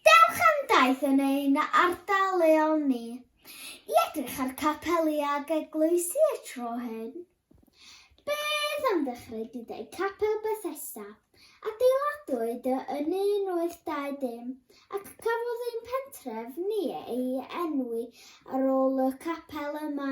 Dewch am daith yn ein ardal leol ni i edrych ar capeli ac eglwysi y tro hyn. Bydd am ddechrau gyda'i Capel Bethesda, adeiladwyd yn 1820 ac cafodd ein pentref ni ei enwi ar ôl y capel yma.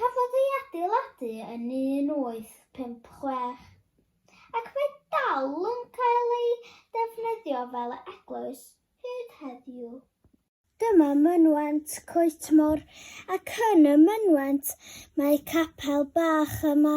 Cafodd ei adeiladu yn 1856 ac mae dal yn cael ei ddefnyddio fel eglwys hyd heddiw. Dyma mynwent Coetmor ac yn y mynwent mae capel bach yma.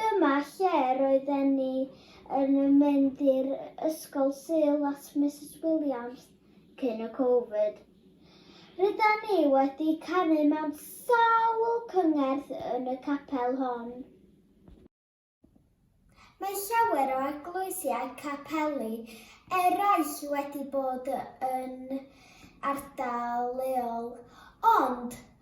Dyma lle roedden ni yn mynd i'r ysgol Sul at Misus Williams cyn y Covid. Rydan ni wedi canu mewn sawl cyngerdd yn y capel hon. Mae llawer o eglwysiau capeli eraill wedi bod yn ardal leol, ond